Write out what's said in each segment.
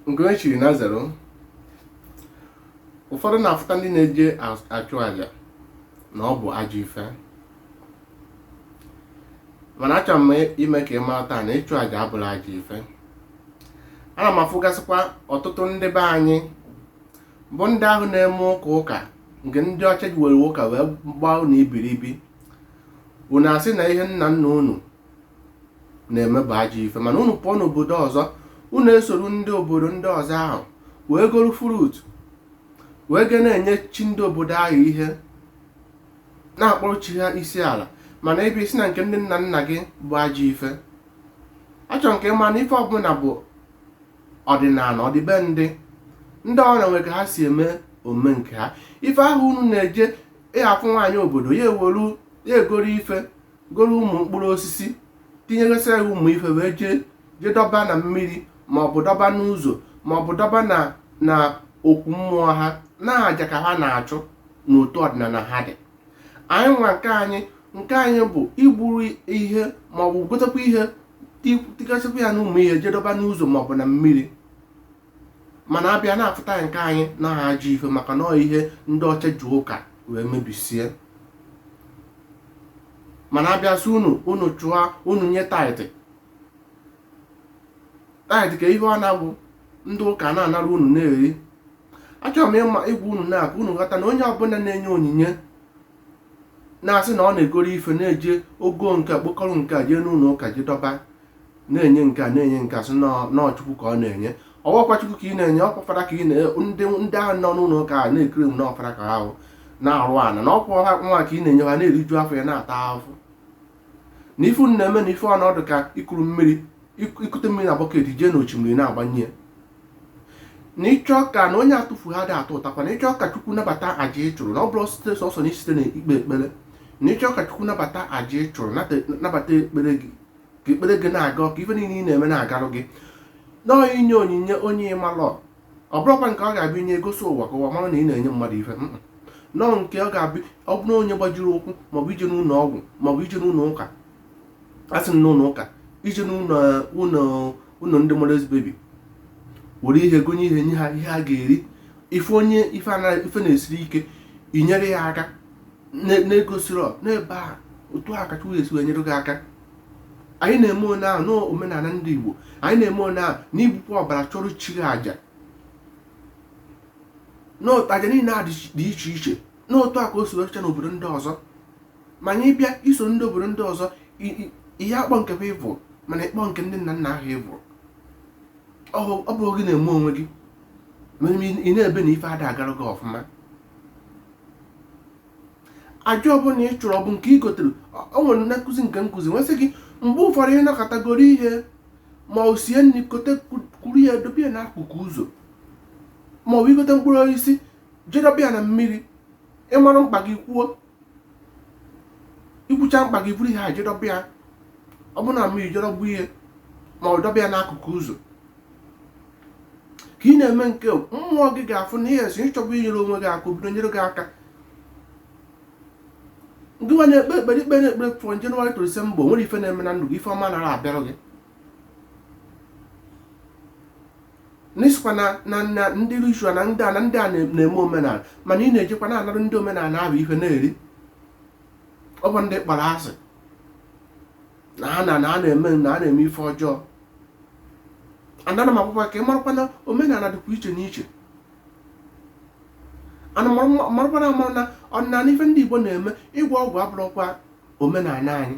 nke e chiri na zero ụfọdụ na-afụta ndị na-eje as- achụ aja na ọ bụ ajọ ife mana achọrọ m ime ka ị mara taa na ịchụ aja abụrọ ajọ ife ana m afụgasịkwa ọtụtụ ndị be anyị bụ ndị ahụ na-eme ụka ụka nke ndị ọcha ji were ụka wee gbaa unu ibiribi unu asị na ihe nna nna unu na-eme bụ ajọ ife mana unu pụọ n'obodo ọzọ unu esoro ndị obodo ndị ọzọ ahụ wee goro fruit wee ga na-enye chi ndị obodo ahụ ihe na-akpọrọ chi ha isi ala mana ị bịa sị na nke ndị nna nna gị bụ ajọ ife achọrọ m ka ị ma na ife ọbụla bụ ọdịnala ọdịbendị ndị ọbụla nwere ka ha si eme omume nke ha ife ahụ unu na-eje ị ya-afụ nwaanyị obodo ya ewolu ya egoro ife goro ụmụ mkpụrụ osisi tinyegasịa ya ụmụ ife wee jee jee dọba na mmiri ma ọ bụ dọba n'ụzọ ma ọ bụ dọba na na okwu mmụọ ha na aja ka ha na-achụ n'otu ọdịnala ha dị anyị nwa nke anyị nke anyị bụ igburu ihe ma ọ bụ gotekwa ihe tigasịkwa ya na ụmụ ihe jee dọba n'ụzọ ma ọ bụ na mmiri mana a bịa na-afụta nke anyị na ha ajọ ife maka na ọ ihe ndị ọcha ji ụka wee mebisie mana a bịa sị unu unu chụọ unu nye tithe tithe ka ihe ọ na-abụ ndị ụka na-anara unu na-eri achọrọ m ịma ịgwa unu na ka unu ghọta na onye ọbụla na-enye onyinye na-asị na ọ na-egoro ife na-eje o goo nke a kpokọrọ nke a jee n'ụlọ ụka jee dọba na-enye nke a na-enye nke a sị na ọ chukwu ka ọ na-enye ọ bụrọkwa chukwu ka ị na-enye ọkwa fada ka ị na ndị ndị ahụ nọ n'ụlọ ụka a na-ekiri m na ọ fada ka ahụ na-eru ana na ọkwa ha nwa ka ị na-enye ha na-eriju afọ ya na-ata ahụhụ na ife unu na-eme na ife ọ na-adị ka ikuru mmiri ik- ikute mmiri na bucket jee na osimiri na-agbanye ya na ị chọọ ka na onye atụfurọ adị atụtakwa na ị chọọ ka chukwu nabata aja ị chụrụ na ọ bụrọ site sọsọ na isite na ikpe ekpere na ị chọọ ka chukwu nabata aja ị chụrụ nata- nabata ekpere gị ka ekpere gị na-aga ka ife niile ị na-eme na-agarụ gị na ọ inye onyinye onye ị malọ ọ bụrọkwa nke ọ ga-abụ i nye i gosi ụwa ka ụwa mara na ị na-enye mmadụ ife na ọ nke ọ ga-abụ ọ bụrụ onye gbajiri ụkwụ maọbụ i jee n'ụlọ ọgwụ maọbụ i jee n'ụlọ ụka a sị n'ụlọ ụka i jee n'ụlọ ụlọ ụlọ ndị motherless baby were ihe gonye ihe nye ha ihe a ga-eri ife onye ife na-esiri ike i nyere ya aka na-egosiri n'ebe a otu a ka Chukwu esi wee nyere gị aka anyị na-eme one ahụ n'omenala ndị Igbo anyị na-eme one ahụ n'igbu ọbara chụọrọ chi gị aja n'ụdị aja niile a dị iche iche n'otu a ka o si werecha n'obodo ndị ọzọ ma anyị bịa iso ndị obodo ndị ọzọ ihe akpọ nke bụ evil mana ị kpọọ nke ndị nna nna ahụ evil ọ bụ gị na-eme onwe gị ị na-ebe na ife ada agara gị ọfụma aja ọbụla ị chụrụ ọ bụ nke ị gotere o nwere nne nkụzi nke nkụzi nwesị gị mgbe ụfọdụ ị nakọtagoro ihe ma o sie nri kote kuru ya dobe ya n'akụkụ ụzọ ma ọ bụ ị gote mkpụrụ osisi jee dobe ya na mmiri ị mara mkpa gị kwuo ị kwucha mkpa gị buru ihe a jee dobe ya ọ bụrụ na mmiri jee dobe ya ma ọ dobe ya n'akụkụ ụzọ ka ị na-eme nke mmụọ gị ga-afụ na ihe esi ịchọba inyere onwe gị aka o bido nyere gị aka ngị nwa na-ekpe ekpere ikpe na-ekpere from January to December o nwerọ ife na-eme na ndụ gị ife ọma anara abịara gị n'ị sịkwa na na na ndị ritual na ndị a na ndị a na- na-eme omenala mana ị na-ejekwa na-anara ndị omenala ahụ ife na-eri ọ bụ ndị ị kpọrọ asị na ha na na a na-eme na a na-eme ife ọjọọ ana m ekwukwa ka ị marakwa na omenala dịkwa iche n'iche ana marakwa marakwa na amara na ọdịnala ife ndị igbo na-eme ịgwọ ọgwụ abụrọkwa omenala anyị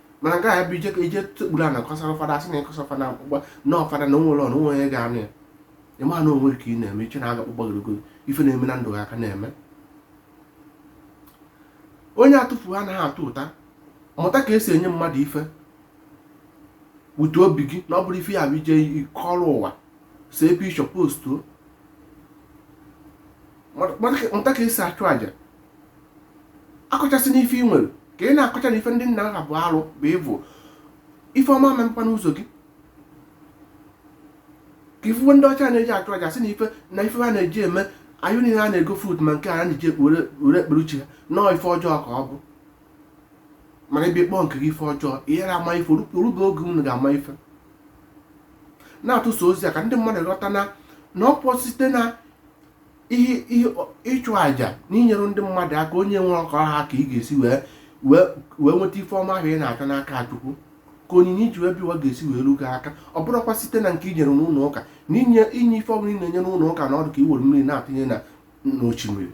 mana nke a bụ ije ka ije sekpuru ana kọsara fada a sị na ị kọsara fada akwụkwọ na ọ fada na o nwerọ onye onye ga-anụ ya ị ma na onwe gị ka ị na-eme i chee na aga akpụkpọ gịrịgoro ife na-eme na ndụ gị a ka na-eme onye atụfu anaghị atụta mụta ka e si enye mmadụ ife wute obi gị na ọ bụrọ ife ya bụ ije kọrọ ụwa see picture postuo mụta ka e si achụ àjà akọchasịna ife ị nwere ka ị na-akọcha na ife ndị nna nna bụ arụ bụ evil ife ọma memkwa n'ụzọ gị ka ifuwe ndị ọcha na-eji achụ aja sị na ife na ife ha na-eji eme anyị niile a na-ego food ma nke a na-eji ekpere were ekpere uche ha na ọ ife ọjọọ ka ọ bụ mana ị bịa kpọọ nke gị ife ọjọọ ị ghara ama ife o rube oge unu ga-ama ife na-atụsa ozi a ka ndị mmadụ ghọta na na ọ bụ site na ihe ihe ịchụ àjà na inyere ndị mmadụ aka onye enwerọ ka ọ ha ka ị ga-esi wee wee wee nweta ife ọma ahụ ị na-achọ n'aka chukwu ka onyinye i ji wee bịa ụwa ga-esi wee ruo gị aka ọ bụrọkwa site na nke i nyere n'ụlọ ụka na inye inye ife ọbụla ị na-enye n'ụlọ ụka na ọ dụ ka i were mmiri na-atụnye na n'osimiri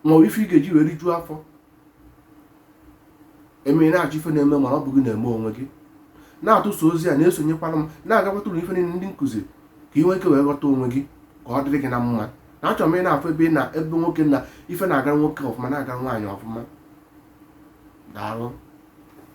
ma ọ bụ ife ị ga-eji wee rijuo afọ emere na-achọ ife na-eme mana ọ bụ gị na-eme onwe gị na-atụsa ozi a na-esonyekwara m na-agakwata ụlọ ife niile ndị nkụzi ka ị nwee ike wee ghọta onwe gị ka ọ dịrị gị na mma na achọrọ m ị na-afụ ebe ị na ebe nwoke na ife na-agara nwoke ọfụma na-agara nwaanyị ọfụma daalụ